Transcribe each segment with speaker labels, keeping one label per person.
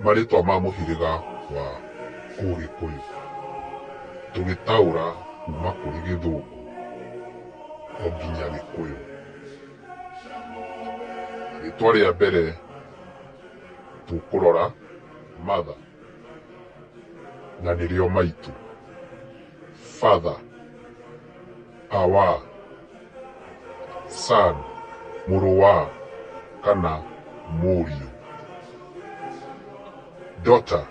Speaker 1: Marĩtwa ma mũhĩrĩga wa Ũgĩkũyũ tũgĩtaũra kuma kũrĩ Gĩthũngũ o nginya Gĩkũyũ. Rĩtwa rĩa mbere tũkũrora mother na nĩrĩo maitũ. father, our, son, mũrũ wa, kana mũriũ. Daughter,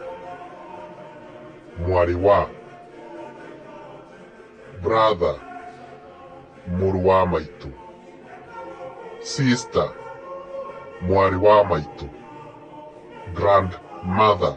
Speaker 1: mwarĩ wa, brother, mũrũ wa maitũ, sister, mwarĩ wa maitũ, grandmother.